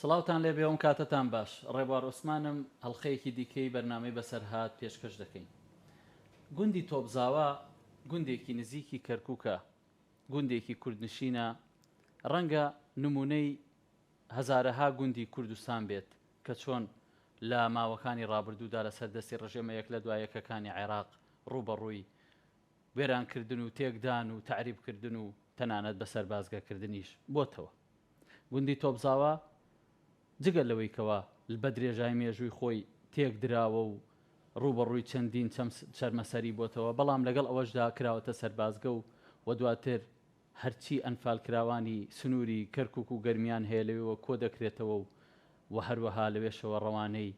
سڵاوتان لێ بێوم کاتتان باش ڕێبوار عوسمانم هەڵلقەیەکی دیکەی بەرنمەی بەسەرهات پێشکەش دەکەین گوندی تۆپزاوا گوندێکی نزیکی کەرکووکە گوندێکی کوردنشینە، ڕەنگە نموونەی هەزارەها گوندی کوردستان بێت کە چۆن لە ماوەکانی ڕابردوودا لەسەر دەستی ڕژێمە یەک لە دوای یەکەکانی عێراق ڕووبەڕووی وێرانکردن و تێکدان و تەعریبکردن و تەنانەت بەسەربازگەکردنیش بۆتەوە. گوندی تۆپزاوا جگە لەوەی کەوا لبە درێژای مێژووی خۆی تێک دراوە و ڕووبەڕووی چەندین چەرمەسەری بۆتەوە بەڵام لەگەڵ ئەوەشدا کراوەتە سەربازگە و وە دواتر هەرچی ئەنفال کراوانی سنووری کەرکوک و گەرمیان هەیە لەوێوە کۆ دەکرێتەوە و وە هەروەها لەوێشەوە ڕەوانەی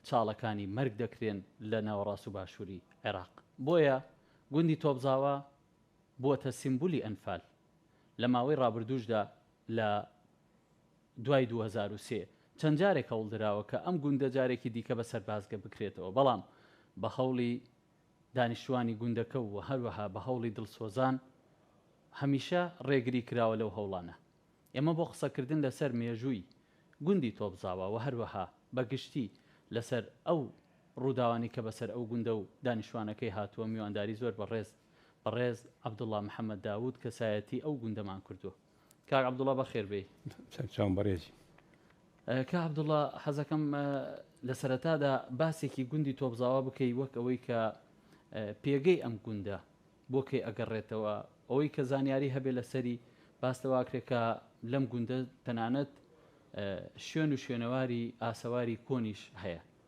چاڵەکانی مەرگ دەکرێن لە ناوەڕاست و باشووری عێراق بۆیە گوندی تۆپزاوا بووەتە سیمبولی ئەنفال. لە ماوەی ڕابردووشدا لە دوای دوو هەزار و سێ چەند جارێک هەوڵ دراوە کە ئەم گوندە جارێکی دیکە بە سەربازگە بکرێتەوە بەڵام بە هەوڵی دانیشتوانی گوندەکە و هەروەها بە هەوڵی دڵسۆزان هەمیشە ڕێگری کراوە لەو هەوڵانە. ئێمە بۆ قسەکردن لەسەر مێژووی گوندی تۆپزاوا و هەروەها بە گشتی لەسەر ئەو ڕووداوانەی کە بەسەر ئەو گوندە و دانیشتوانەکەی هاتووە میوانداری زۆر بەڕێز بەڕێز عەبدوڵا محەمەد داوود کەسایەتی ئەو گوندەمان کردووە. کاک عەبدوڵا بەخێر بێی. سەرچاوم بەڕێزی. کاک عەبدوڵا حەزەکەم لە سەرەتادا باسێکی گوندی تۆپزاوا بکەی وەک ئەوەی کە پێگەی ئەم گوندە بۆ کەی ئەگەڕێتەوە، ئەوەی کە زانیاری هەبێ لەسەری باس لەوە کرێ کە لەم گوندە تەنانەت شوێن و شوێنەواری ئاسەواری کۆنیش هەیە.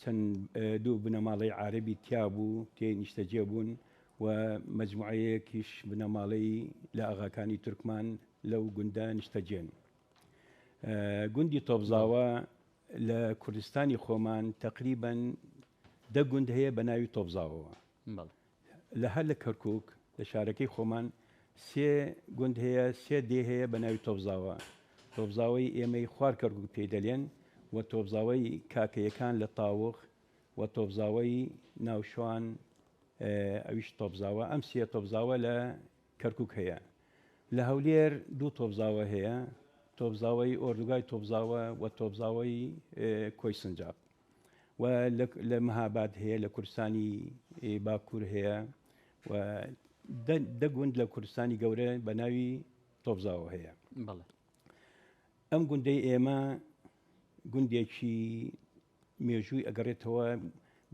چەند دوو بنەماڵەی عارەبی تیا بوو تێی نیشتەجێ بوون و مەجموعەیەکیش بنەماڵەی لە ئاغاکانی تورکمان لەو گوندە نیشتەجێن. گوندی تۆپزاوە لە کوردستانی خۆمان تەقریبەن دە گوند هەیە بە ناوی تۆپزاوەوە. بەڵێ. لە هەر لە کەرکوک لە شارەکەی خۆمان سێ گوند هەیە سێ دێ هەیە بە ناوی تۆپزاوە تۆپزاوەی ئێمەی خوار کەرکوک پێی دەلێن و تۆپزاوەی کاکەیەکان لە تاوخ و تۆپزاوەی ناوشوان ئەویش تۆپزاوە ئەم سێ تۆپزاوە لە کەرکوک هەیە لە هەولێر دوو تۆپزاوە هەیە تۆپزاوەی ئۆردوگای تۆپزاوە و تۆپزاوەی کۆی سنجاب و لە مهاباد هەیە لە کوردستانی باکوور هەیە و دە گوند لە کوردستانی گەورە بە ناوی تۆبزاوە هەیە بەڵێ ئەم گوندەی ئێمە گوندێکی مێژووی ئەگەڕێتەوە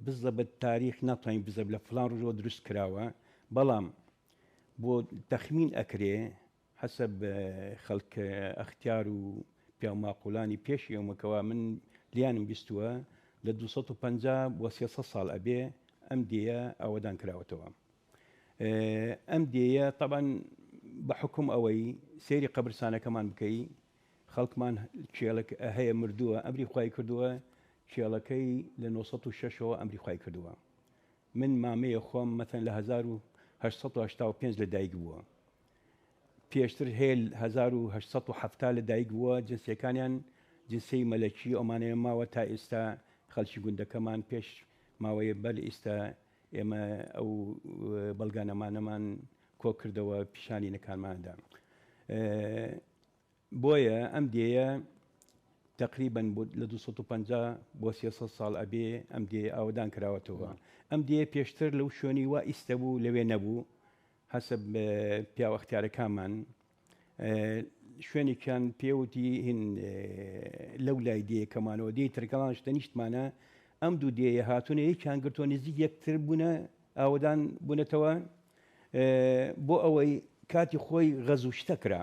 بزە بە تاریخ ناتوانین بزە لە فلان ڕژەوە دروست کراوە بەڵام بۆ تەخمین ئەکرێ حەسەب خەلک ئەختیار و پیاو ماقولانی پێش ئێومە کەوا من لیانم بیستوە لە دوو سەد و پەنجا بۆ سێ سەد سال ئەبێ ئەم دێیە ئاوەدان کراوەتەوە ئەم دێیە تەبان بە حکوم ئەوەی سەیری قەبرسانەکەمان بکەی خەڵکمان کێڵک هەیە مردووە ئەمری خی کردووە کێڵەکەی لە 1960ەوە ئەمری خی کردووە من مامەیە خۆم مەتەن لە 1970 لە دایک بووە پێشتر هێل هەزار و هەشت سەد و حەفتا لە دایک بووە، جنسیەکانیان جنسیەی مەلەکی ئەومانەیە ماوە تا ئیستا خەلکی گوندەکەمان پێش ماوەیە بەر ئیستا ئێمە ئەو بەلگانەمانەمان کۆ کردەوە پیشانی نەکانمان دا بۆیە ئەم دێیە تقریبا لە 250 بۆ 300 ساڵ ئەبێ ئەم دێ ئاوەدان کراوەتەوە ئەم دێ پێشتر لەو شوێنی وا ئیستە بوو لەوێ نەبوو هەسە پیاو ئەختیارە کامان شوێنێکیان پێوتی هین لەو لای دێ کەمانەوە دێ ترکەڵان شتە نیشتمانە ئەم دوو دێە هاتوونە یەکیان گرتۆ نزیک یەکتر بوونە ئاوەدان بوونەتەوە بۆ ئەوەی کاتی خۆی غەزوو شتە کرا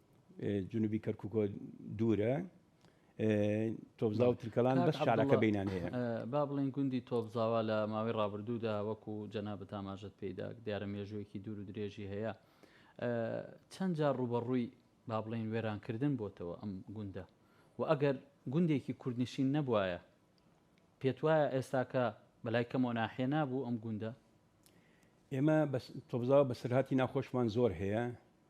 جنوبی کەرکوکۆ دوورە تۆبزا و ترکەلان بەس شارەکە بینان هەیە با بڵین گوندی تۆبزاوا لە ماوەی ڕابردوودا وەکو جەنا بە تاماژەت پێیدا دیارە مێژوویەکی دوور و درێژی هەیە چەند جار ڕوبەڕووی با بڵین وێرانکردن بۆتەوە ئەم گوندە و ئەگەر گوندێکی کوردنشین نەبواە پێت وایە ئێستاکە بەلای کەمۆ ناحێ نابوو ئەم گوندە ئێمە تۆبزاوە بە سرهاتی ناخۆشمان زۆر هەیە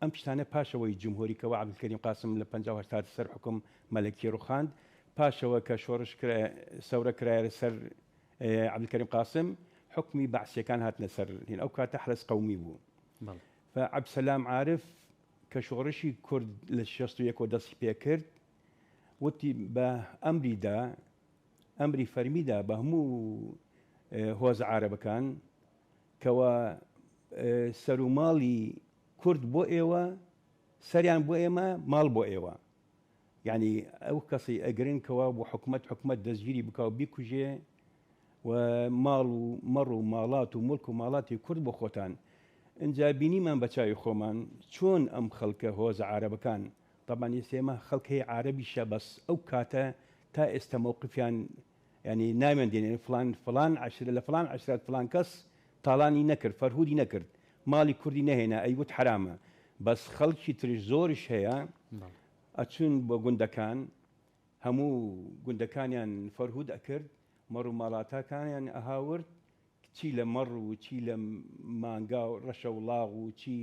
ئەم شتانە پاش ئەوەی جمهوری کەوە عبدالکریم قاسم لە پەنجا و هەشتاد سەر حوکم مەلەکی روخاند پاشەوە کە شۆرش کرا سەورە کرایە سەر عبدالکریم قاسم حکمی بەعسیەکان هاتنە سەر هین ئەو کاتە حرس قومی بوو فعب سلام عارف کە شۆڕشی کورد لە شەست و یەکەوە دەستی پێ کرد وتی بە ئەمریدا ئەمری فەرمیدا بە هەموو هۆز عربەکان کوا سەروماڵی کورد بۆ ئێوە سەریان بۆ ئێمە ماڵ بۆ ئێوە یانی ئەو کەسی ئەگرن کەوا بۆ حکومت حکومت دەستگیری بکە و بیکوژێ و ماڵ و مەڕ و ماڵات و ملک و ماڵاتی کورد بۆ خۆتان ئەجا بینیمان بە چاوی خۆمان چۆن ئەم خەڵکە هۆز عربەکان طبعا ئێسێمە خەڵکەی عربیشە بەس ئەو کاتە تا ئێستا مووقفیان یانی ناویان دێنێ فڵان فڵان عەشرە لە فڵان عەشرەت فڵان کەس تاڵانی نەکرد فەرهودی نەکرد ماڵی کوردی نەهێنا ئەیوت حەرامە بەس خەڵکی ترش زۆرش هەیە ئەچون بۆ گوندەکان هەموو گوندەکانیان فەرهود ئەکرد مەڕوماڵاتاکانیان ئەهاورد چی لە مەڕ و چی لە مانگا و ڕەشەوڵاغ و چی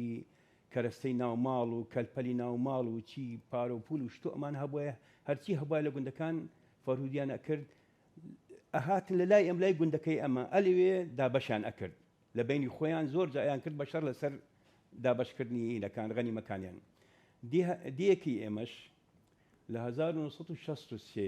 کەرەستەی ناو ماڵ و کەلپەلی ناو ماڵ و چی پارە و پوول و شتو ئەمان هەبوایە هەرچی هەبوایە لە گوندەکان فەرهودیان ئەکرد ئەهاتن لە لای ئەم لای گوندەکەی ئەمە ئەلەوێ دابەشیان ئەکرد لە بەینی خۆیان زۆر جا ئەیان کرد بە شەڕ لەسەر دابەش کردنی هینەکان غەنیمەکانیان دیه دیەکی ئێمەش لە هەزار و نۆ سەد و شەست و سێ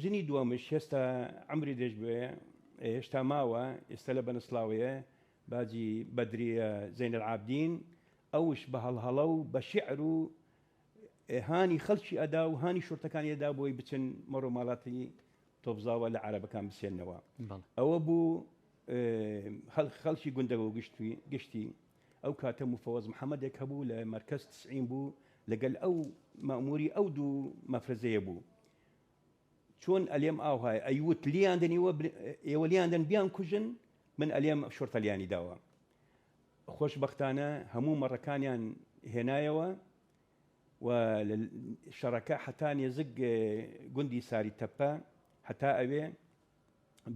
ژنی دووەمش هێستا عەمری درێژ بوێ هێشتا ماوە ئێستا لە بەنسڵاوەیە باجی بەدریە زەینەل عابدین ئەوش بە هەڵهەڵە و بە شعر و هانی خەڵکی ئەدا و هانی شورتەکانی ئەدا بۆی بچن مەڕۆ ماڵاتی تۆبزاوە لە عربەکان بسێنەوە ئەوە بوو خەڵکی گوندەوە گشتی گشتی ئەو کاتە موفەوەز محەمەدێک هەبوو لە مەرکەز تسعین بوو لەگەل ئەو مەئموری ئەو دوو مەفرەزەیە بوو چۆن ئەلێم ئاوهایە ئەیوت لیان دەن ئێوە ئێوە لیان دەن بیان کوژن من ئەلێم شۆرتە لیانی داوە خۆشببختانە هەموو مەڕەکانیان هێنایەوە و شەڕەکە حتا نێزگ گوندی ساری تەپە حتا ئەوێ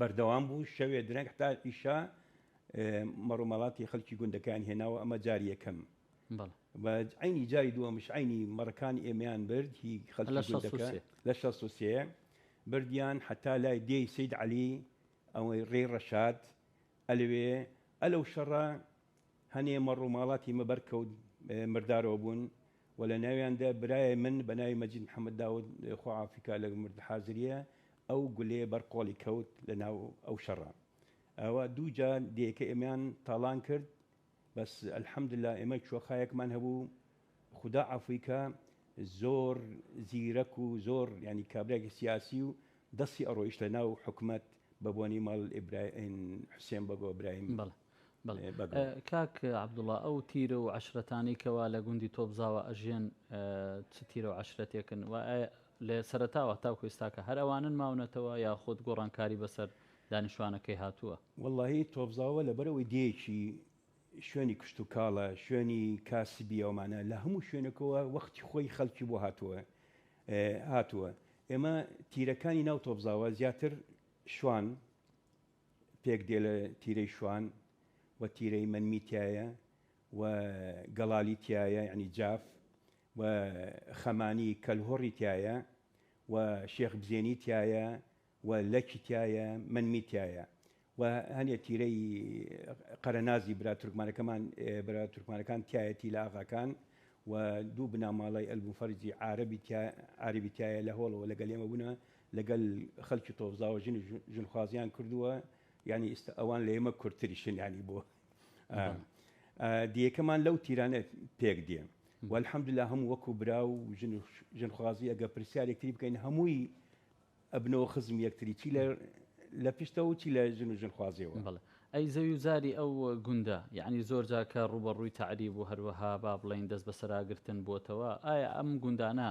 بەردەوام بوو شەوێ درەنگ حتا ئیشا مەڕ و مەڵاتی خەلکی گوندەکان هێناوە ئەمە جار یەکەم بە عینی جاری دووەمش عینی مەڕەکان ئێمەیان برد هی خەلک لە شە سوسێ بردیان حتا لای دێی سید علی ئەوەی ڕێ ڕەشاد ئەلوێ ئەلەو شەڕە هەنێ مەڕ و ماڵاتی مەبەرکەوت مردارەوە بوون و لە ناویاندا برای من بە ناوی مەجید محەمەد داود خوا عافی کا لە مرد حازریە ئەو گولەیە بەر قۆڵی کەوت لە ناو ئەو شەڕە ئەوا دوو جار دێکە ئێمەیان تاڵان کرد بەس الحمدللە ئێمە چۆخایەکمان هەبوو خودا عافوی کا زۆر زیرەک و زۆر یانی کابرایەکی سیاسی و دەستی ئەڕۆیشت لە ناو حکومەت بە بۆنەی ماڵ ئیبرا حوسێن بەگۆ برایم. بەڵێ. کاک عەبدوڵا ئەو تیرە و عەشرەتانەی کەوا لە گوندی تۆپزاوە ئەژێن چ تیرە و عەشرەتێکن و لە سەرەتاوە تاوکو ئێستاکە هەر ئەوانن ماونەتەوە یاخود گۆڕانکاری بەسەر دانیشتوانەکەی هاتووە؟ وەڵاهی تۆپزاوە لەبەرئەوەی دێیەکی شوێنی کشتوکاڵە شوێنی کاسبی ئەومانە لە هەموو شوێنەکەوە وەختی خۆی خەڵکی بۆ هاتووە هاتووە ئێمە تیرەکانی ناو تۆپزاوە زیاتر شوان پێک دێ لە تیرەی شوان و تیرەی مەنمی تیایە و گەڵالی تیایە یەعنی جاف و خەمانی کەلهوڕی تیایە و شێخ بزێنی تیایە و لەکی تیایە مەنمی تیایە و هەنێ تیرەی قەرەنازی برا تورکمانەکەمان برا تورکمانەکان تیایەتی لە ئاغاکان و دوو بناماڵەی ئەلبوفەرجی عارەبی تیا عارەبی تیایە لە هۆڵەوە لەگەل ئێمە بوونە لەگەل خەلکی تۆفزاوە ژن و ژن خوازیان کردووە یانی ئیستە ئەوان لە ئێمە کورتریشن یانی بۆ دیەکەمان لەو تیرانە پێک دێ والحمدلله هەموو وەکو برا و ژن ژن خوازی ئەگە پرسیارێکتری بکەین هەمووی ئەبنەوە خزم یەکتری چی لە لە پشتەوە چی لە ژن و ژن خوازیەوە بڵێ ئەی زەوی و زاری ئەو گوندە یعنی زۆر جاکە ڕوبەڕووی تعریب و هەروەها با بڵین دەست بەسەراگرتن بۆتەوە ئایا ئەم گوندانە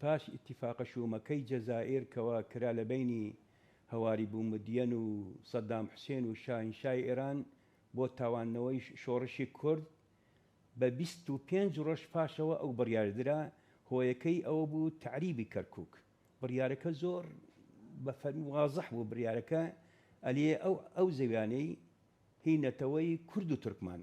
پاش ئیتیفاقە شوومەکەی جەزائیر کەوا کرا لە بەینی هەواری بوومدیەن و سەدام حوسێن و شاهینشای ئێران بۆ تاواندنەوەی شۆڕشی کورد، بە بیست و پێنج ڕۆژ پاشەوە ئەو بڕیارە درا، هۆیەکەی ئەوە بوو تەعریبی کەرکووک. بڕیارەکە زۆر بە فەرمی و وازح بوو، بڕیارەکە ئەلیێ ئەو ئەو زەویانەی هی نەتەوەی کورد و تورکمان،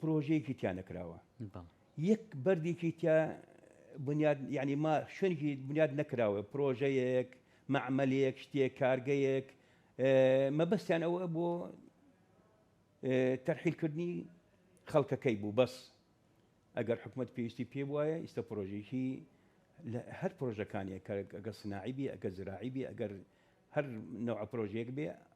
پرۆژەیەکی تیا نەکراوە یەک بەردێکی تیا بنیاد یعنی ما شوێنێکی بنیاد نەکراوە پرۆژەیەک مەعمەلێک شتێک کارگەیەک مەبەستیان ئەوە بۆ تەرحیلکردنی خەڵکەکەی بوو بەس ئەگەر حکوومەت پێویستی پێ وایە ئیستا پرۆژێکی لە هەر پرۆژەکانیە کە ئەگە سناعیبی ئەگە زراعیبی ئەگەر هەر نەوە پرۆژێک بێ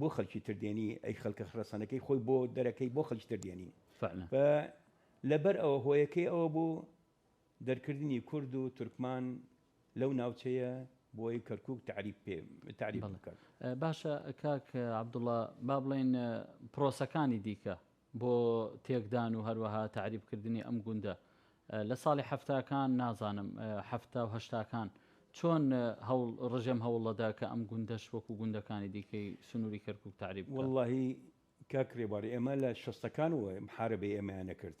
بۆ خەلکی تر دێنی ئەی خەلکە خرەسەنەکەی خۆی بۆ دەرەکەی بۆ خەلکی تر دێنی فە لەبەر ئەوە هۆیەکەی ئەوە بوو دەرکردنی کورد و تورکمان لەو ناوچەیە بۆی کەرکک تعریب پێ تعریب بکات باشە کاک عبدوڵە با بڵین پرۆسەکانی دیکە بۆ تێکدان و هەروەها تەعریب کردنی ئەم گوندە لە ساڵی حەفتاکان نازانم حەفتا و هەشتاکان چۆن هەوڵ ڕژێم هەوڵەدا کە ئەم گوندەش وەکو گوندەکانی دیکەی سنووری کەرکووک تەعریب بکات. وەڵڵاهی کاک ڕێبوار ئێمە لە شەستەکانەوە محارەبەی ئێمەیان ئەکرد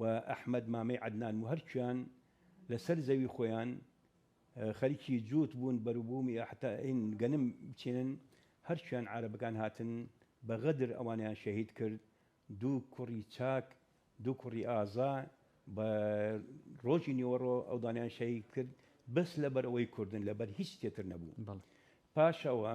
و ئەحمەد مامەی عەدنان و هەرکیان لە سەر زەوی خۆیان خەریکی جووت بوون بەروبوومی ئەحتا ین گەنم بچێنن هەرکیان عارەبەکان هاتن بە غەدر ئەوانەیان شەهید کرد دوو کوڕی چاک دوو کوڕی ئازا بە ڕۆژی نیوەڕۆ ئەودانیان شەهید کرد بەس لەبەر ئەوەی کوردن لەبەر هیچ تێتر نەبوو پاش ئەوە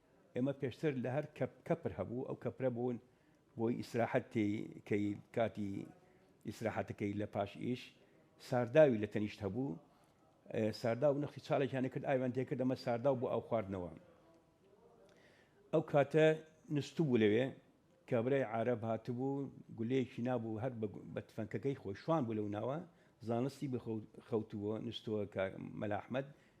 ئێمە پێشتر لە هەر کەپ کەپر هەبوو ئەو کەپرە بوون بۆی ئیسراحەت تێی کەی کاتی ئیسراحەتەکەی لە پاش ئیش سارداوی لە تەنیشت هەبوو سارداو نەخی چاڵێکیان کرد ئاویان تێکرد ئەمە سارداو بۆ ئاو خواردنەوە ئەو کاتە نستو بوو لەوێ کابرای عرب هاتبوو گولەیەکی نابوو هەر بە تفەنکەکەی خۆی شوان بوو لەو ناوە زانستی بخەوتووە نستووە مەلاحمد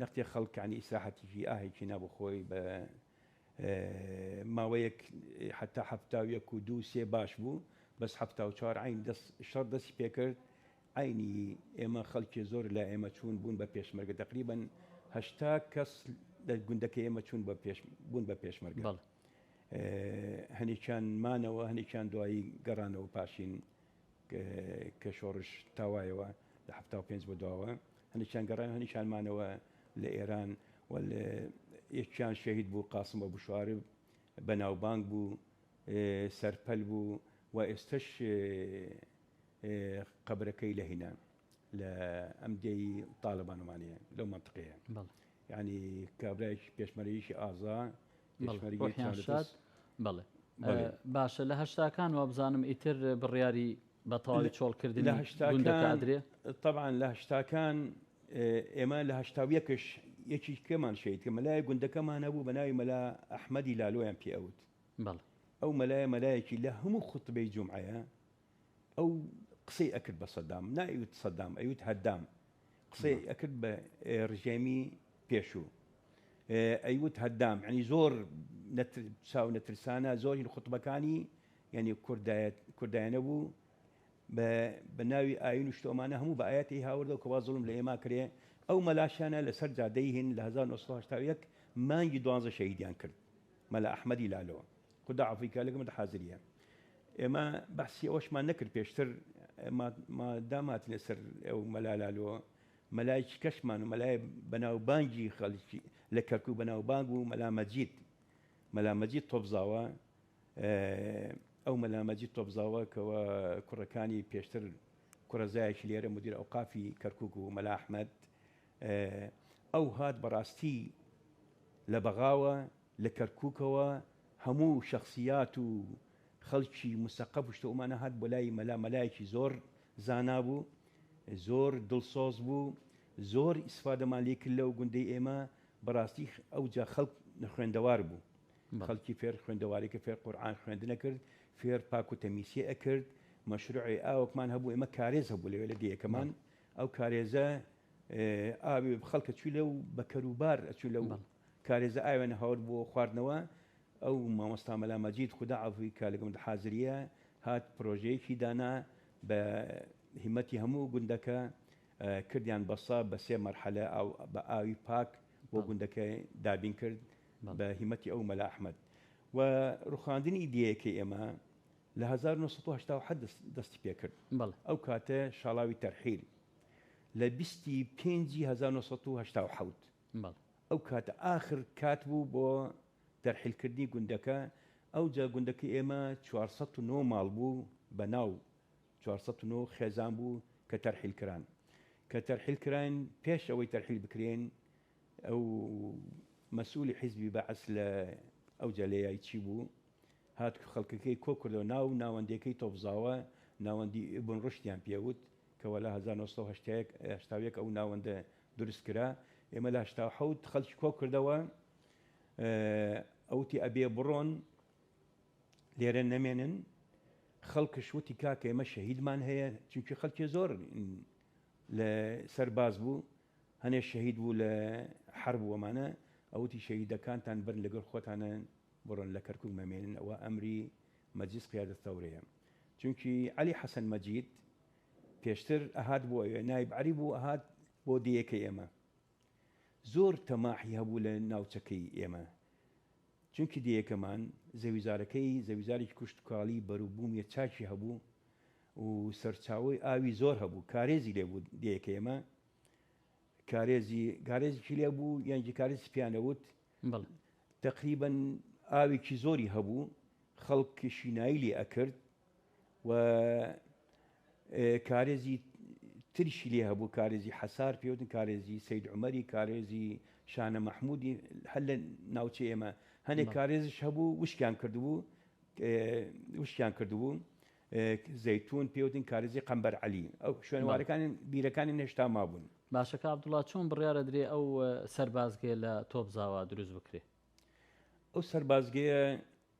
نەختێ خەڵک عنی ئیسراحەتیکی ئاهێکی نابوو خۆی بە ماوەیەک حەتا حەفتا و یەک و دوو سێ باش بوو بەس حەفتا و چوار عین دەس شەڕ دەسی پێکرد عینی ئێمە خەڵکی زۆر لە ئێمە چوون بوون بە پێشمەرگە تقریبن هەشتا کەس لە گوندەکە ئێمە چوون بە پێش بوون بە پێشمەرگە بەڵێ هەنێکیان مانەوە هەنێکیان دوایی گەڕانەوە پاشین کە شۆڕش تاوایەوە لە حەفتا و پێنج بۆ دواوە هەندێکیان گەڕایەوە هەندێکیان مانەوە لە ئێران و لە یەکیان شەهید بوو قاسم بە بشوارب بەناوبانگ بوو سەرپەل بوو و ئێستش قەبرەکەی لە هینان لە ئەم دێی تاالبانمانەیە لەو منطقەیە ینی کابراایش پێشمەرەیشی ئازا شاد بڵێ باشە لە هەشتاکان وابزانم ئیتر بڕیاری بەتەواوی چۆڵکردن لە هەشتادرێ طبعاان لە هەشتاکان ئێمە لە هەشتاویەکش یەکی کەمان شەیت کە مەلای گوندەکەمان هەبوو بە ناوی مەلا ئەحمەدی لالۆیان پێوت ئەو مەلایە مەلایەکی لە هەموو خوتبەی جمعەیە ئەو قسەی ئەکرد بە سەدام نایوت سەدام ئەیوت هەدام قسەی ئەکرد بە ڕژێمی پێشوو ئەیوت هەدام ینی زۆر چاو نەترسانە زۆری لە خوتبەکانی یعنی کوردایەت کوردایانە بوو بە ناوی ئاین و شتۆمانە هەموو بە ئاەتی هاوردەوە کەوا زڵم لە ئێما کرێ ئەو مەلاشانە لەسەر جادەی هین لە 1970 مانگی دوانزە شەهیدیان کرد مەلا ئەحمەدی لالۆ خودا عەفوی کا لەگەمەدا حازریە. ئێمە بەحسی ئەوەشمان نەکرد پێشتر مادام هاتینە سەر ئەو مەلا لالۆ مەلایکی کەشمان و مەلای بەناوبانگی خەڵکی لە کەرکوک بەناوبانگ و مەلا مەجید مەلا مەجید تۆپزاوە ئەو مەلا مەجید تۆپزاوە کەوە کوڕەکانی پێشتر کوڕەزایەکی لێرە مدیر ئەوقافی کەرکوک و مەلا ئەحمەد ئەو هات بەڕاستی لە بەغاوە لە کەرکوکەوە هەموو شەخسیات و خەلکی مسەقەف و شتە ئەومان ئەهات بۆ لای مەلا مەلایەکی زۆر زانا بوو زۆر دلسۆز بوو زۆر ئیسفادەمان لێ کرد لەو گوندەی ئێمە بەراستی ئەوجا خەلک نەخوێندەوار بوو خەلکی فێر خوێندەواری کرد فێر قورعان خوێندنە کرد فێر پاک و تەمیسی ئەکرد مەشروعی ئاوەکمان هەبوو ئێمە کارێز هەبوو لەوێ لە دێیەکەمان ئەو کارێزە ئاوی خەلکە چوی لەو بەکەروبار ئەچوی لەو کارێزە ئاوێنە هەور بۆ خواردنەوە ئەو مامۆستا مەلا مەجید خودا عەفوی کا لە گوند حازریە هات پرۆژەیەکی دانا بە هیمەتی هەموو گوندەکە کردیان بە سە بە سێ مەرحەلە ئاو بە ئاوی پاک بۆ گوندەکە دابین کرد بە هیمەتی ئەو مەلا ئەحمەد و ڕوخاندنی ئیدەیەکەی ئێمە لە 1970 دەستی پێ کرد ئەو کاتە شاڵاوی تەرحیل لە 25 1970 بەڵێ. ئەو کاتە ئاخر کات بوو بۆ تەرحیل کردنی گوندەکە، ئەوجا گوندەکەی ئێمە چوار سەد و نۆ ماڵ بوو بە ناو چوار سەد و نۆ خێزان بوو کە تەرحیل کران. کە تەرحیل کراین پێش ئەوەی تەرحیل بکرێن ئەو مەسئولی حیزبی بەعس لە ئەوجا لە یای چی بوو هات خەڵکەکەی کۆ کردەوە ناو ناوەندێکەی تۆفزاوە ناوەندی ئیبن ڕوشدیان پێ وت کە وەلا هەزار و نۆ سەد و هەشتا و یەک ئەو ناوەندە دروست کرا ئێمە لە هەشتا و حەوت خەڵکی کۆ کردەوە ئەوتی ئەبێ بڕۆن لێرە نەمێنن خەڵکش وتی کاکە ئێمە شەهیدمان هەیە چونکی خەڵکی زۆر لە سەرباز بوو هەنێ شەهید بوو لە حەر بووەمانە ئەوتی شەهیدەکانتان برن لەگەڵ خۆتانە بڕۆن لە کەرکک مەمێنن ئەوە ئەمری مەجیز قیادە تەورەیە چونکی علی حەسەن مەجید پێشتر ئەهات بۆ ئەوێ نایب عەلی بوو ئەهات بۆ دێیەکەی ئێمە زۆر تەماحی هەبوو لە ناوچەکەی ئێمە چونکی دێیەکەمان زەویزارەکەی زەویزارێکی کوشتکاڵی بەروبوومیە چاکی هەبوو و سەرچاوی ئاوی زۆر هەبوو کارێزی لێ بوو دێیەکە ئێمە کارێزی گارێزیی لێ بوو یانجی کارێز پیانەوت تقریبن ئاوێکی زۆری هەبوو خەڵک شینایی لێ ئەکرد و کارێزی تریشی لێ هەبوو کارێزی حەسار پێوتن کارێزی سید عمەری کارێزی شانە مححمودی هەر لە ناوچە ئێمە هەنێک کارێزش هەبوو وشکیان کردبوو وشکیان کردبوو زەیتون پێوتن کارێزی قەمبەر علی ئەو شوێنوارەکان بیرەکانی نەشتا مابوون باشەکە عبدوڵا چۆن بڕیاە درێ ئەو سەربازگەیە لە تۆپزاوا دروست بکرێ ئەو سەربازگەیە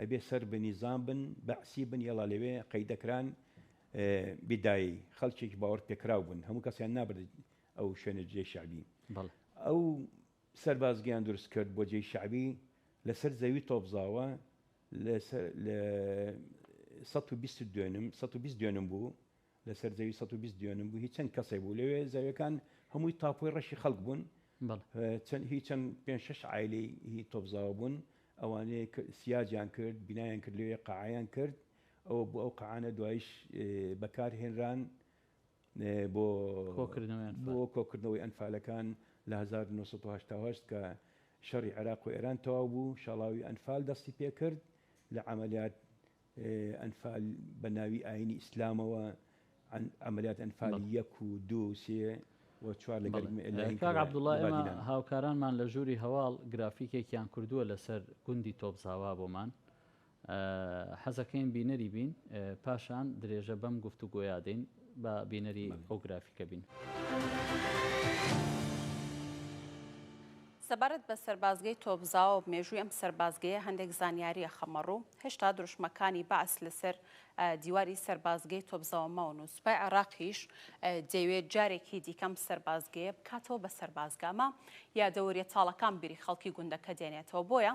ئەبێ سەر بە نیزام بن بەعسی بن یەڵا لەوێ قەیدەکران بدایی خەڵکێکی باوەڕ پێکراو بوون هەموو کەسیان نابرد ئەو شوێنە جێ شعبی ئەو سەربازگەیان دروست کرد بۆ جێی شعبی لەسەر زەوی تۆپزاوە لە 120 دوێنم 120 دوێنم بوو لەسەر زەوی سەد و بیست دیۆنم بوو هیچ چەند کەسێک بوو لەوێ زەویەکان هەمووی تاپۆی ڕەشی خەڵک بوون بەڵێ اه، چەند هی چەند پێنج شەش عایلەی هی تۆپزاوە بوون ئەوانەیە ک سیاجیان کرد بینایان کرد لەوێ قەعەیان کرد ئەوە بوو ئەو قەعانە دوایش اه، بەکار هێنران اه، بۆ کۆکردنەوەی بۆ ئەنفال کۆکردنەوەی ئەنفالەکان لە هەزار و نۆ سەد و هەشتا و هەشت کە شەڕی عێراق و ئێران تەواو بوو شاڵاوی ئەنفال دەستی پێ کرد لە عەمەلیات ئەنفال بە ناوی ئاینی ئیسلامەوە عملیات ئەنفال یەک و دوو و سێ و چوار لە گەل لەین کاک عبداللە ئێمە هاوکارانمان لە ژووری هەواڵ گرافیکێکیان کردووە لەسەر گوندی تۆپزاوا بۆمان حەزەکەین بینەری بین پاشان درێژە بەم گفت و گۆیادەین بە بینەری ئەو گرافیکە بین. سەبارەت بە سەربازگەی تۆپزاوە و مێژووی ئەم سەربازگەیە هەندێک زانیاری ئەخەمە ڕوو، هێشتا دروشمەکانی بەعس لەسەر دیواری سەربازگەی تۆپزاوە ماون و سوپای عێراقیش دەیەوێت جارێکی دیکە ئەم سەربازگەیە بکاتەوە بە سەربازگە، ئەمە یادەوەریە تاڵەکان بیری خەڵکی گوندەکە دێنێتەوە، بۆیە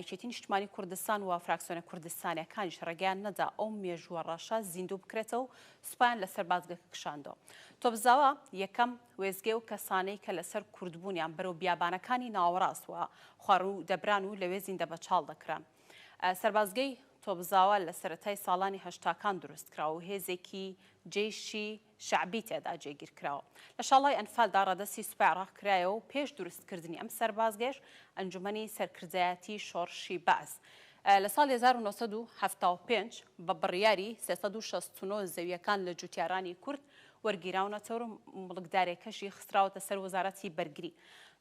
یەکێتی نیشتمانی کوردستان و فراکسیۆنە کوردستانیەکانیش ڕێگەیان نەدا ئەو مێژووە ڕەشە زیندوو بکرێتەوە و سوپایان لەسەر بازگەکە کشاندەوە. تۆپزاوا یەکەم وێستگەی ئەو کەسانەی کە لەسەر کوردبوونیان بەرەو بیابانەکانی ناوەڕاست و خواروو دەبران و لەوێ زیندەبەچاڵ دەکران. سەربازگەی تۆپزاوا لە سەرەتای ساڵانی هەشتاکان دروستکرا و هێزێکی جەیشی شەعبی تێدا جێگیر کراوە. لە شاڵای ئەنفالدا ڕادەستی سوپای عێراق کرایەوە و پێش دروستکردنی ئەم سەربازگەیەش ئەنجومەنی سەرکردایەتیی شۆڕشی بەعس لە ساڵی هەزار و نۆ سەد و حەفتا و پێنج بە بڕیاری سێ سەد و شەست و نۆ زەوییەکان لە جووتیارانی کورد وەرگیراونەتەوەر و موڵکدارێکەشی خستراوەتە سەر وەزارەتی بەرگری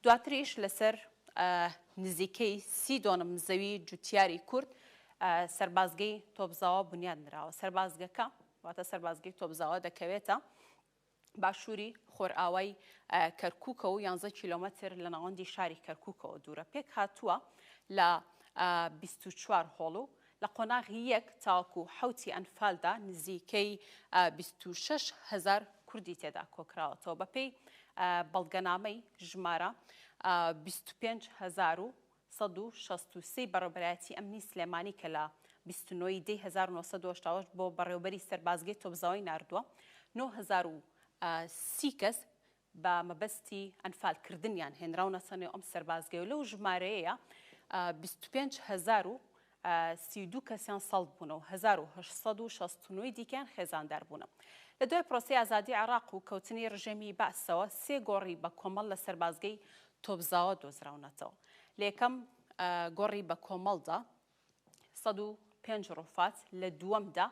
دواتریش لەسەر نزیکەی سی دۆنم زەوی جووتیاری کورد سەربازگەی تۆپزاوا بنیاد نراوە. سەربازگەکە. واتە سەربازگەی تۆپزاوا دەکەوێتە باشووری خۆرئاوای کەرکووکە و یانزە کیلۆمەتر لە ناوەندی شاری کەرکووکەوە دوورە پێک هاتووە لە 24 هۆڵ و لە قۆناغی یەک تاوەکو حوتی ئەنفالدا نزیکەی 26 هزار کوردی تێدا کۆکراوەتەوە بەپێی بەڵگەنامەی ژمارە 25 هزار و سەد و شەست و سێ ی بەڕێوبەرایەتی ئەمنی سلێمانی کە لە بیست و نۆ ی دەی هەزار و نۆ سەد و هەشتا و هەشت بۆ بەڕێوبەری سەربازگەی تۆپزاوای ناردووە، نۆ هەزار و سی کەس بە مەبەستی ئەنفالکردنیان هێنراونەتە نێو ئەم سەربازگەیەو لەو ژمارەیەیا بیست و پێنج هەزار و سی و دوو کەسیان سەڵت بوونە و هەزار و هەشت سەد و شەست و نۆ ی دیکەیان خێزاندار بوونە. لە دوای پرۆسەی ئازادی عێڕاق و کەوتنی ڕژێمی بەعسەوە سێ گۆڕی بە کۆمەڵ لە سەربازگەی تۆپزاوە دۆزراونەتەوە. لە یەکەم گۆڕی بە کۆمەڵدا سەد و پێنج ڕوفات، لە دووەمدا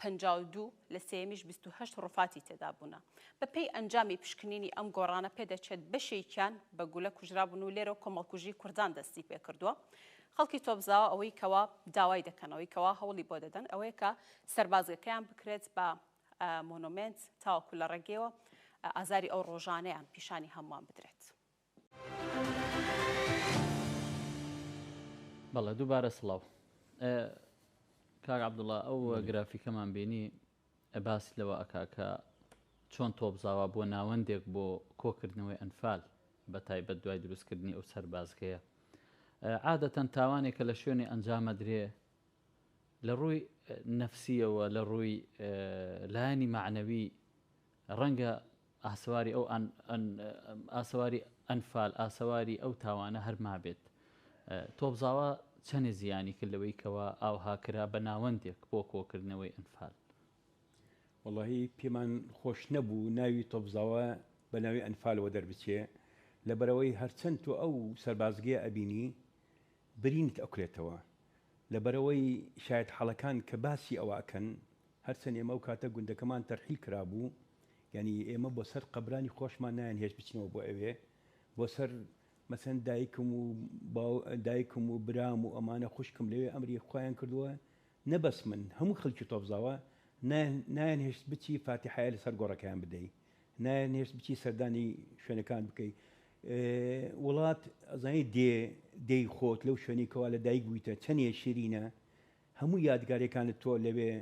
پەنجا و دوو، لە سێیەمیش بیست و هەشت ڕوفاتی تێدا بوونە. بە پێی ئەنجامی پشکنینی ئەم گۆڕانە پێدەچێت بەشێکیان بە گولە کوژرابوون و لێرەوە کۆمەڵکوژی کوردان دەستی پێکردووە. خەڵکی تۆپزاوا ئەوەی کەوا داوای دەکەن، ئەوەی کەوا هەوڵی بۆ دەدەن ئەوەیە کە سەربازگەکەیان بکرێت بە مۆنۆمێنت تاوەکو لە ڕێگەیەوە ئازاری ئەو ڕۆژانەیان پیشانی هەمووان بدرێت. بەڵێ دووبارە سڵاو. کاک عەبدوڵا ئەو گرافیکەمان بینی باس لەوە ئەکا کە چۆن تۆپزاوا بووە ناوەندێک بۆ کۆکردنەوەی ئەنفال بەتایبەت دوای دروستکردنی ئەو سەربازگەیە عادەتەن تاوانێک کە لە شوێنێ ئەنجامەدرێ لە ڕووی نەفسییەوە لە ڕووی لایەنی مەعنەوی ڕەنگە ئاسەواری ئەو ئاسەواری ئەنفال ئاسەواری ئەو تاوانە هەر مابێت. تۆپزاوا چەنێ زیانی کرد لەوەی کەوا ئاوها کرا بە ناوەندێک بۆ کۆکردنەوەی ئەنفال؟ وەڵاهی پێمان خۆش نەبوو ناوی تۆپزاوا بە ناوی ئەنفالەوە دەربچێ لەبەرئەوەی هەرچەند تۆ ئەو سەربازگەیە ئەبینی برینت ئەکولێتەوە لەبەرئەوەی شایەتحاڵەکان کە باسی ئەوە ئەکەن هەرچەند ئێمە ئەو کاتە گوندەکەمان تەرحیل کرابوو، یانی ئێمە بۆ سەر قەبرانی خۆشمان نایانهێشت بچینەوە بۆ ئەوێ، بۆ سەر مەسەن دایکم و باو دایکم و برام و ئەمانە خوشکم لەوێ ئەمری خوایان کردووە، نە بەس من، هەموو خەڵکی تۆپزاوا نایان نایانهێشت بچی فاتیحایە لەسەر گۆڕەکەیان بدەی، نایانهێشت بچی سەردانی شوێنەکان بکەی، وڵات ئەزانی دێ دێی خۆت لەو شوێنەی کەوا لە دایک بوویتە چەنێ شیرینە، هەموو یادگاریەکانت تۆ لەوێ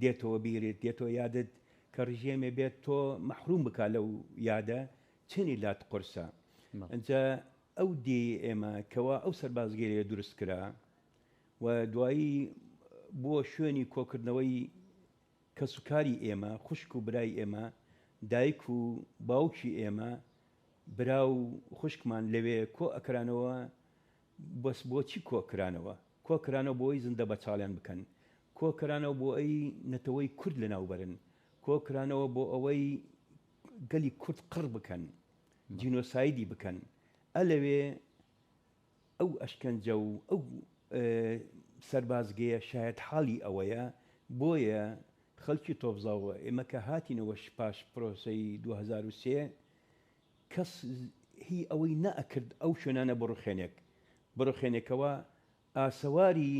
دێتەوە بیرت دێتەوە یادت کە ڕژێمێ بێت تۆ مەحروم بکا لەو یادە چەنی لات قورسە ئەجا ئەو دێی ئێمە کەوا ئەو سەربازگەێ دروست کرا و دوایی بۆ شوێنی کۆکردنەوەی کەسوکاری ئێمە خوشک و برای ئێمە دایک و باوکی ئێمە برا و خوشکمان لەوێ کۆ ئەکرانەوە بەس بۆچی کۆکرانەوە؟ کۆکرانەوە بۆی زندە بەچاڵیان بکەن، کۆکرانەوە بۆی نەتەوەی کورد لەناوبەرن، کۆکرانەوە بۆئەوەی گەلی کورد قڕ بکەن، جینۆسایدی بکەن، ئە لەوێ ئەو ئەشکەنجە و ئەو سەربازگەیە شایەتحاڵی ئەوەیە، بۆیە خەڵکی تۆپزاوە ئێمە کە هاتینەوە پاش پرۆسەی دوو هەزار و سێ کەس هی ئەوەی نە ئەکرد ئەو شوێنانە بڕوخێنێک بڕوخێنێکەوە ئاسەواری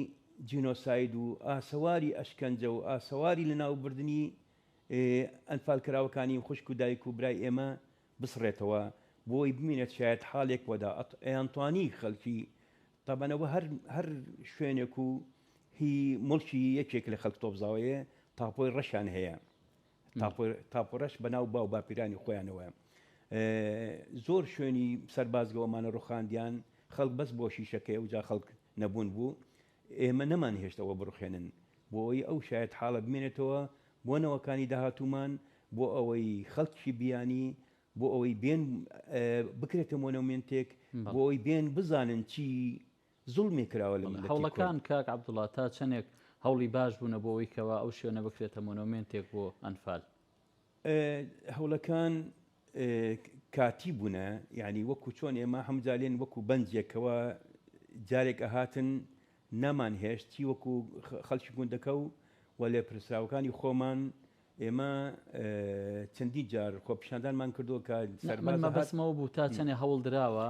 جینۆساید و ئاسەواری ئەشکەنجە و ئاسەواری لە ناو بردنی ئەنفال کراوەکانی خوشک و دایک و برای ئێمە بسڕێتەوە بۆی بمینێت شایەت حالێک وەدا ئەیانتوانی خەلکی تەبەنەوە هەر هەر شوێنێک و هی موڵکی یەکێک لە خەلک تۆپزاوەیە تاپۆی ڕەشان هەیە تاپۆرەش بەناو باو باپیرانی خۆیانەوە زۆر شوێنی سەربازگەوەمانە ڕوخاندیان خەڵک بەس بۆ شیشەکەی ئەو جا خەڵک نەبوون بوو ئێمە نەمان هێشتەوە بڕخێنن بۆ ئەوی ئەو شاید حاڵە بمێنێتەوە بۆ نەوەکانی داهاتومان بۆ ئەوەی خەڵکی بیانی بۆ ئەوەی بێن بکرێتە مۆنەومنتێک بۆ ئەوی بێن بزانن چی زوڵمێک کراوە لە میللەتی کورد. هەوڵەکان کاک عەبدوڵا تا چەندێک هەوڵی باش بوونە بۆ ئەوەی کەوا ئەو شوێنە بکرێتە مۆنۆمێنتێک بۆ ئەنفال؟ هەوڵەکان کاتی بوونە یانی وەکو چۆن ئێمە هەموو جار لێن وەکو بەنجێک کەوا جارێک ئەهاتن نەمانهێشت چی وەکو خەڵکی گوندەکە و و لێپرسراوەکانی خۆمان ئێمە چەندین جار خۆپیشاندانمان کردووە کە سەربازە هات. من مەبەستم ئەوە بوو تا چەنێ هەوڵ دراوە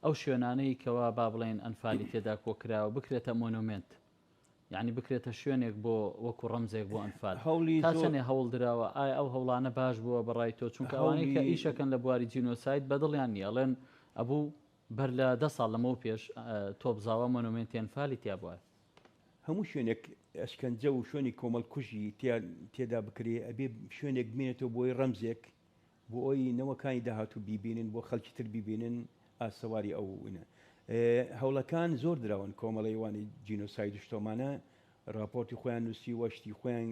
ئەو شوێنانەی کەوا با بڵێین ئەنفالی تێدا کۆ کراوە بکرێتە مۆنۆمێنت. یانی بکرێتە شوێنێک بۆ وەکوو ڕەمزێک بۆ ئەنفال. تا چەنێ هەوڵ دراوە؟ ئایا ئەو هەوڵانە باش بووە بە ڕای تۆ؟ چونکە ئەوانەی کە ئیشەکەن لە بواری جینۆساید بە دڵیان نییە. ئەڵێن ئەبوو بەر لە دە ساڵ لەمەو پێش تۆپزاوا مۆنۆمێنتی ئەنفالی تیا بوایە. هەموو شوێنێک ئەشکەنجە و شوێنی کۆمەڵ کوژی تێدا بکرێ ئەبێ شوێنێک بمێنێتەوە بۆی ڕەمزێک بۆ ئەوی نەوەکانی داهاتوو بیبینن بۆ خەڵکی تر بیبینن ئاسەواری ئەو ونە هەوڵەکان زۆر دراون کۆمەڵەیوانی جینۆساید و شتۆمانە راپۆرتی خۆیان نووسیوە شتی خۆیان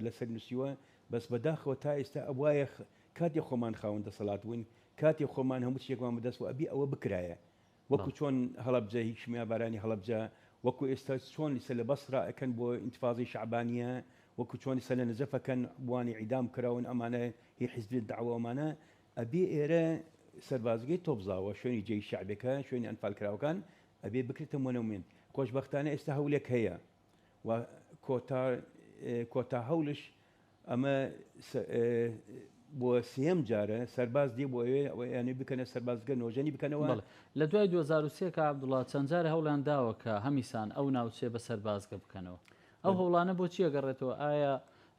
لەسەر نووسیوە بەس بەداخەوە تا ئێستا ئەوایە کاتی خۆمان خاون دەسەڵات بووین کاتی خۆمان هەموو شتێکمان بدەست و ئەبی ئەوە بکرایە وەکو چۆن هەڵەبجە هی کیمیابارانی هەڵەبجە وەکو ئێستا چۆن ئیستا لە بەسرە ئەکەن بۆ ئینتفازەی شەعبانیە وەکو چۆن ئیستا لە نەجەف ئەکەن بوانی ئیعدام کراون ئەمانە هی حیزبی دەعوە ئەمانە ئەبێ ئێرە سەربازگەی تۆپزاوە شوێنی جێی شەعبێکە شوێنی ئەنفالکراوەکان ئەبێ بکرێتە مۆنۆمێنت خۆشبەختانە ئێستا هەولێک هەیە و کۆتا کۆتا هەولش ئەمە بۆ سێم جارە سەرباز دێ بۆ ئەوێ بکەنە سەربازگە نۆژەنی بکەنەوە لە دوای 2023 کە عبدوڵا چەند جارە هەوڵیان داوە کە هەمیسان ئەو ناوچێ بە سەربازگە بکەنەوە ئەو هەوڵانە بۆ چیە گەڕێتەوە ئایا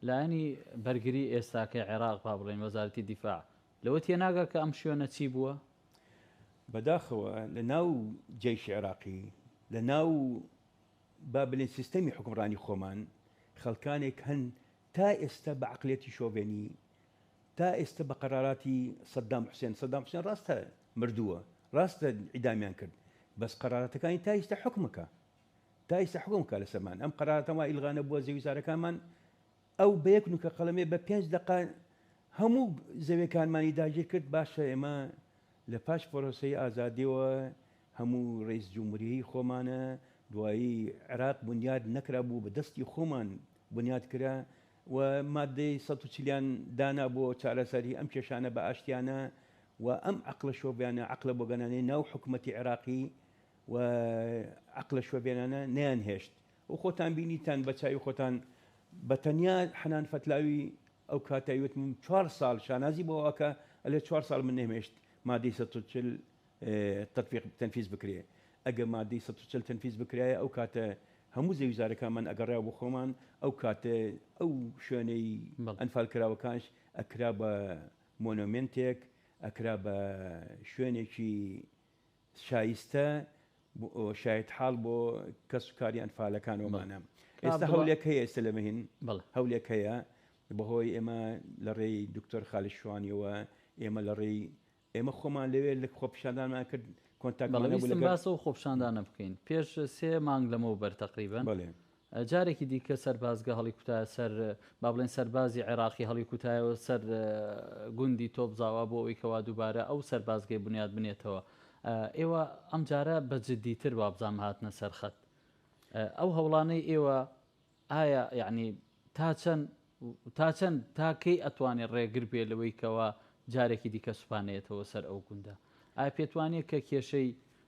لایەنی بەرگری ئێستاکە عێراق با بڵێن وەزارەتی دیفاع لەوە تێناگە کە ئەم شوێنە چی بووە بەداخەوە لە ناو جێش عێراقی لە ناو با بلێن سیستەمی حوکمڕانی خۆمان خەڵکانێک هەن تا ئێستا بە عەقڵیەتی شۆڤێنی تا ئێستا بە قەراراتی سەدام حوسێن سەدام حوسێن ڕاستە مردووە ڕاستە ئیدامیان کرد بەس قەراراتەکانی تا ئیستا حکمەکە تا ئیستا حکمکە لەسەرمان ئەم قەرارەتەما ئیلغانە بووە زەویزارەکانمان ئەو بە یەک نوکە قەڵەمێ بە پێنج دەقە هەموو زەوێکانمانی داگیر کرد، باشە ئێمە لە پاش پرۆسەی ئازادیەوە هەموو رەیس جمهوریی خۆمانە، دوایی عێراق بنیاد نەکرا بوو بە دەستی خۆمان بنیاد کرا و مادەی سەد و چل یان دانا بۆ چارەسەری ئەم کێشانە بە ئاشتیانە و ئەم عەقڵە شۆڤێانە، عەقڵە بۆگەنانەی ناو حکومەتی عێراقی و عەقڵە شۆڤێنانە نەیان هێشت و خۆتان بینیتان بە چاوی خۆتان بە تەنیا حەنان فەتلاوی ئەو کاتەی وتم چوار ساڵ شانازی بۆ ئەکا ئەلێ چوار ساڵ من نەیمێشت مادەی سەد و چل تەتبیق تەنفیز بکرێ ئەگەر مادەی سەد و چل تەنفیز بکرایە ئەو کاتە هەموو زەویزارەکانمان ئەگەڕا بۆ خۆمان ئەو کاتە ئەو شوێنەی ئەنفال کراوەکانش ئەکرا بە مۆنۆمێنتێک ئەکرا بە شوێنێکی شایستە شایەت حاڵ بۆ کەس و کاری ئەنفالەکان ومانە ئێستا هەولێک هەیە ئێستا لە مەهین هەولێک هەیە بەهۆی ئێمە لە ڕێی دکتۆر خالی شوانیەوە ئێمە لە ڕێی ئێمە خۆمان لەوێ لە خۆپشاندانمان کرد کۆنتاکمانە باسە و خۆپشاندانە بکەین پێش سێ مانگ لەمەو بەر تقریبن جارێکی دیکە سەربازگە هەڵیکوتایە سەر، با بڵێین سەربازی عێراقی هەڵیکوتایەوە سەر گوندی تۆپزاوا بۆ ئەوەی کەوا دووبارە ئەو سەربازگەی بنیات بنێتەوە. ئێوە ئەمجارە بە جدیتر وابزانم هاتنە سەر خەت. ئەو هەوڵانەی ئێوە ئایا یعنی تا چەند تا چەند تا کەی ئەتوانێت ڕێگر بێ لەوەی کەوا جارێکی دیکە سوپانەیەتەوە سەر ئەو گوندە؟ ئایا پێتوانێت کە کێشەی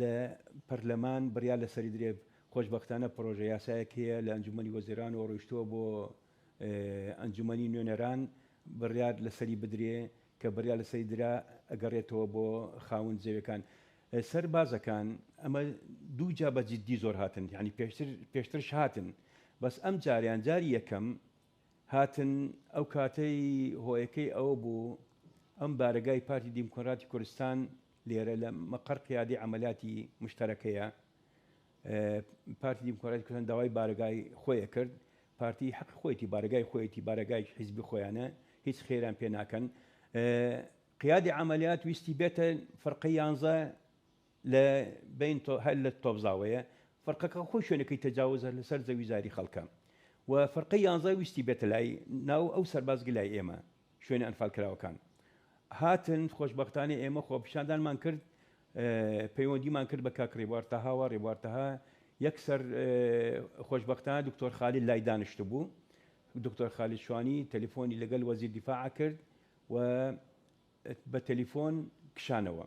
لە پەرلەمان بڕیار لەسەری درێ، خۆشبەختانە پڕۆژە یاسایەک هەیە لە ئەنجوومەنی وەزیرانەوە ڕۆیشتووە بۆ ئەنجوومەنی نوێنەران بڕیار لەسەری بدرێ، کە بڕیار لەسەری درا ئەگەڕێتەوە بۆ خاوەن جێیەکان. سەربازەکان ئەمە دوو جا بە جیددی زۆر هاتن، یانی پێشتر پێشترش هاتن بەس ئەمجارەیان جاری یەکەم هاتن، ئەو کاتەی هۆیەکەی ئەوە بوو ئەم بارەگای پارتی دیموکراتی کوردستان لێرە لە مەقەر قیادەی عەمەلیاتی مشتەرەکەیە پارتی دیموکراتی کوردستان داوای بارەگای خۆیە کرد پارتی حەق خۆیتی بارەگای خۆیتی بارەگای حیزبی خۆیانە هیچ خێران پێ ناکەن قیادی عملیات ویستی بێتە فرقە یانزە لە بەین تۆ هەر لە تۆپزاوەیە فەرقەکە خۆی شوێنەکەی تەجاوزە لە سەر زەوی زاری خەڵکە و فەرقەی یانزە ویستی بێتە لای ناو ئەو سەرباز گلای ئێمە شوێنە ئەنفال کراوەکان هاتن خۆشبەختانە ئێمە خۆپیشاندانمان کرد پەیوەندیمان کرد بە کاک ڕێبوار تەهاوە ڕێبوار تەها یەکسەر خۆشببختان دکتۆر خالی لای دانیشت بوو دکتۆر خالی شوانی تەلیفۆنی لەگەل وەزیر دیفاع کرد و بە تەلیفۆن کشانەوە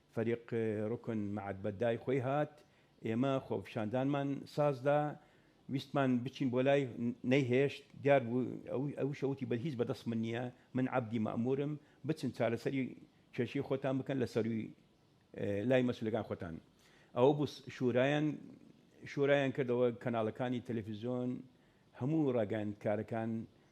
فەریق روکن مەعەد بە دای خۆی هات، ئێمە خۆپیشاندانمان سازدا، ویستمان بچین بۆ لای، نەیهێشت، دیار بوو، ئەویش وتی بەل هیچ بەدەست من نییە، من عەبدی مەئموورم، بچن چارەسەری کێشەی خۆتان بکەن لە سەرووی لای مەسوولەکانی خۆتان. ئەوە بوو شورایان شورایان کردەوە، کەناڵەکانی تەلەفیزیۆن، هەموو راگەیاندکارەکان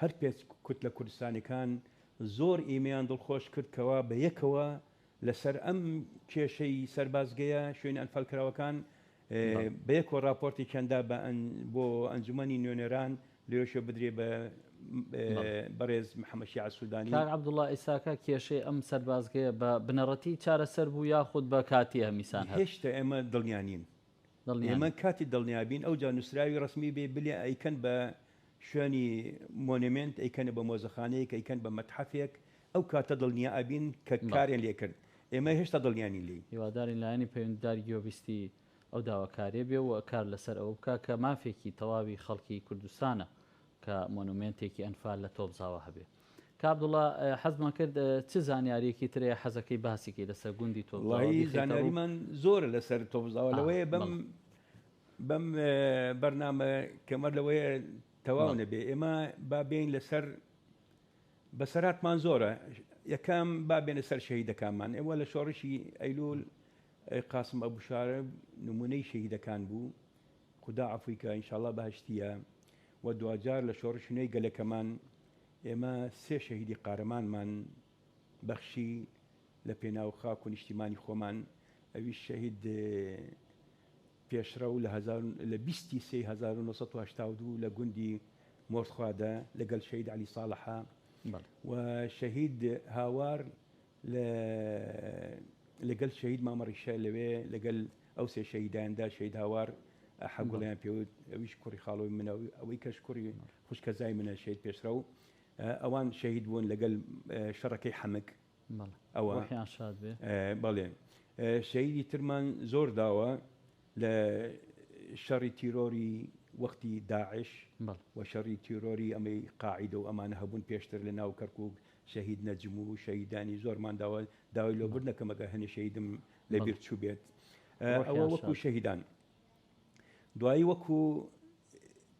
هەر پێنج کوتلە کوردستانیەکان زۆر ئیمەیان دڵخۆش کرد کەوا بە یەکەوە لە سەر ئەم کێشەی سەربازگەیە شوێنە ئەنفالکراوەکان بە یەکەوە راپۆرتێکیان دا بە بۆ ئەنجومەنی نوێنەران لێشە بدرێ بە بەڕێز محەمە شیعە سودانی. کاک عەبدوڵا ئیساکە کێشەی ئەم سەربازگەیە بە بنەڕەتی چارەسەر بوو یاخود بە کاتیە هەمیسان هەر؟ هێشتا ئێمە دڵنیا نین دڵنیان. ئێمە کاتی دڵنیابین ئەوجا نوسراوی ڕەسمی بێ بلێ ئەیکەن بە شوێنی مۆنێمێنت ئەیکەنە بە مۆزەخانەیەک ئەیکەن بە مەتحەفێک ئەو کاتە دڵنیا ئەبین کە کارێن لێ کرد ئێمە هێشتا دڵنیانین لێی. هیوادارین لایەنی پەیوەندیدار گوێبیستی ئەو داواکاریە بێ و کار لەسەر ئەوە بکا کە مافێکی تەواوی خەڵکی کوردستانە کە مۆنومێنتێکی ئەنفال لە تۆپزاوە هەبێ. کا عبداللە حەزمان کرد چ زانیاریەکی ترەیە حەزەکەی باسیکی لەسەر گوندی تۆپزاوە وڵایی بیخەیتە ڕوو؟ زانیاریمان زۆرە لەسەر تۆپزاوە آه، لەوەیە بەم بەڵێ. بەم اه، بەرنامە کەمە لەوەیە تەواو بەڵێ. نەبێ ئێمە با بێین لەسەر بەسەراتمان زۆرە یەکەم با بێنە سەر شەهیدەکانمان ئێوە لە شۆڕشی ئەیلول اه، قاسم ئەبوشارە نمونەی شەهیدەکان بوو خودا عفوی کە انشاءاللە بەهشتیە و دواجار لە شۆڕش نوێی گەلەکەمان ئێمە سێ شەهیدی قارەمانمان بەخشی لە پێناو خاک و نیشتیمانی خۆمان، ئەویش شەهید پێشڕەو لە بیست ی سێی هەزار و نۆ سەد و هەشتا و دوو لە گوندی مۆرتخوادە لەگەل شەهید عەلی ساڵحە و شەهید هاوار لە لە گەل شەهید مامە ڕیشە لەوێ لە گەل ئەو سێ شەهیدان دا شەهید هاوار ئەحە گوڵیان پێوت ئەویش کوڕی خاڵۆی منە ئەوەی کەش کوڕی خوشکەزای منە شەهید پێشڕە و ئەوان شەهید بوون لە گەل شەڕەکەی حەمک ئەوە بەڵێ شەهیدی ترمان زۆر داوە لە شەڕی تیرۆری وەختی داعش و شەڕی تیرۆری ئەمەی قاعدە و ئەمانە هەبوون پێشتر لە ناو کەرکک شەهید نەجم و شەهیدانی زۆرمان داوە داوای لۆ بردنە کەم ئەگەر هەنێ شەهیدم لە بیر چووبێت ئەوە وەکو شەهیدان دوایی وەکو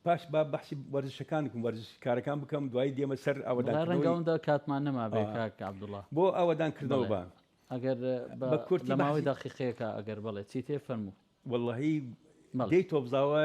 پاش با بەحسی وەرزشەکان بکەم وەرزش کارەکان بکەم دوایی دێمە سەر ئەوەداڕەنگەوندا کاتمان نەما بێ کاک عبدوڵە بۆ ئەوەدان کردەوە بە ئەگەر بە کورت لە ماوەی داقیقەیەەکە ئەگەر بڵێ چی تێ فەرموو واللهی دەی تۆبزاوە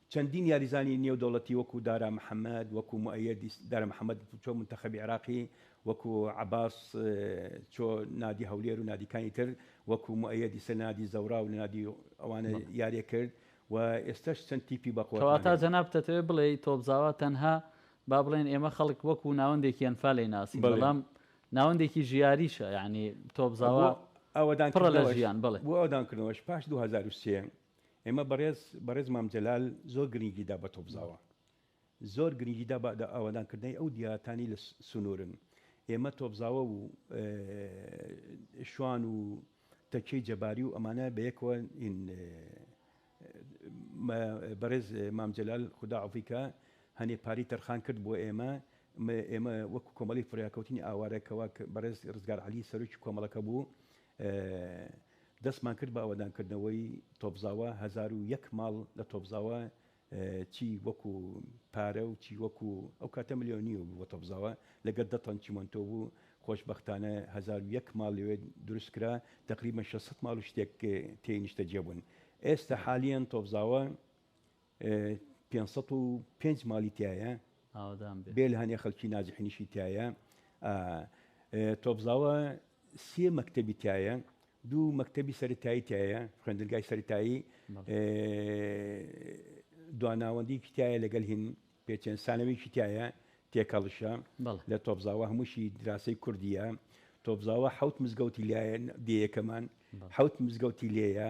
چەندین یاریزانی نێودەوڵەتی وەکو دارا محەمەد، وەکو موئەیەد دارا محەمەد چۆ منتەخەبی عێراقی، وەکو عەباس چۆ نادی هەولێر و نادیکانی تر، وەکو موئەیەد ئیسە لە نادی زەوراو لە نادی ئەوانە یاریە کرد و ئێستاش چەند تیپی بە قوەتان کەواتە هەیە. جەنابت دەتەوێت بڵێی تۆپزاوا تەنها با بڵێن ئێمە خەڵک وەکو ناوەندێکی ئەنفال دەیناسین بەڵێ. بەڵام ناوەندێکی ژیاریشە یانی بۆ تۆپزاوا ئاوەدان پڕە لە کردنەوەش ژیان بەڵێ. بۆ ئاوەدان کردنەوەش پاش دوو هەزار و سێ ئێمە بەڕێز بەڕێز مام جەلال زۆر گرنگی دا بە تۆپزاوە زۆر گرنگی دا بە ئاوادان کردنەی ئەو دیاتانی لە سنوورن ئێمە تۆپزاوە و شوان و تەکیەی جەباری و ئەمانە بەیەکەوە بەڕێز مامجلال خدا عفیکە هەنێ پاری تەرخان کرد بۆ ئێمە ئێمە وەک کۆمەڵی فریاکەوتنی ئاوارەکەەوە بەڕێز ڕزگار علی سەرۆکی کۆمەڵەکە بوو دەستمان کرد بە ئاوەدانکردنەوەی تۆپزاوا، هەزار و یەک ماڵ لە تۆپزاوا چی وەکو پارە و چی وەکو ئەو کاتە ملیۆنییەوە بوو بۆ تۆپزاوا، لەگەر دە تەن چیمەنتۆ بوو، خۆشبەختانە هەزار و یەک ماڵ لەوێ دروست کرا، تەقریبەن شەش سەد ماڵ و شتێک تێی نیشتەجێ بوون. ئێستا حالیەن تۆپزاوا پێنج سەد و پێنج ماڵی تایە ئاوادان بێ لە هەنێ خەلکی نازحنیشی تایە تۆبزاوە سێ مەکتتەبی تایە دوو مەکتتەبی سەرتایی تایە خوێندنگای سەرتایی دواناوەندیکی تایە لەگەل هین پێچێن سانەویکی تایە تێکەڵشە لە تۆبزاوە هەمووشی دراسی کوردیە تۆبزاوە حوت مزگەوتی لایەن دیەکەمان حوت مزگەوتی لێە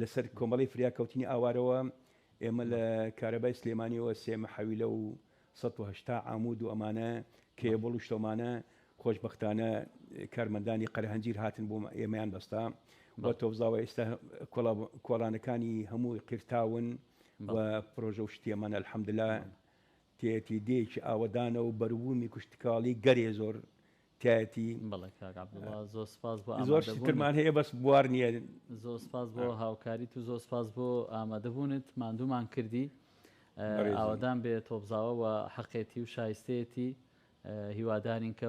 لەسەر کۆمەڵەی فریاکەوتنی ئاوارەوە ئێمە لە کارەبای سلێمانیەوە سێ مەحەویلە و سەد و هەشتا عامود و ئەمانە کێبڵ و شتەومانە خۆشبەختانە کارمەندانی قەرەهەنجیر هاتن بۆ ئێمەیان بەستا و تۆبزاوە ئێستا کۆڵانەکانی هەمووی قیرتاون و پرۆژە و شتیەمانە الحمدللە تێتی دێکی ئاوەدانە و بەروومی کشتکاڵی گەلێ زۆر تێتی. بەڵێ کاک عەبدوڵا زۆر سپاس بۆ ئامادەبوونت. زۆر شترمان هەیە بەس بوار نییە. زۆر سپاس بۆ هاوکاریت و زۆر سپاس بۆ ئامادەبوونت، ماندوومان کردی. ئاوەدان بێ تۆپزاوە و حەقێتی و شایستەیەتی، هیوادارین کە.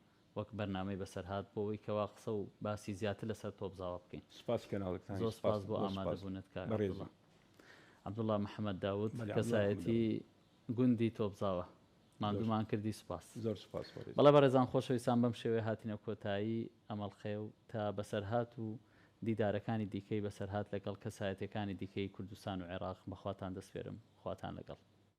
وەک بەرنامەی بەسەرهات بۆوەی کەوا قسە و باسی زیاتر لەسەر تۆپزاوا بکەین. سوپاسی کەناڵەکتانی زۆر سپاس بۆ ئامادەبوونت کاک عەبدوڵا. عەبدوڵا محەمەد داود کەسایەتی گوندی تۆپزاوا ماندوومان کردی سوپاس. زۆر سوپاس بەڕێزم. بەڵێ بەڕێزان خۆشەویستان بەم شێوەیە هاتینە کۆتایی ئەمەڵقەیە و تا بەسەرهات و دیدارەکانی دیکەی بەسەرهات لەگەڵ کەسایەتیەکانی دیکەی کوردستان و عێڕاق بەخواتان دەسپێرم خواتان لەگەڵ.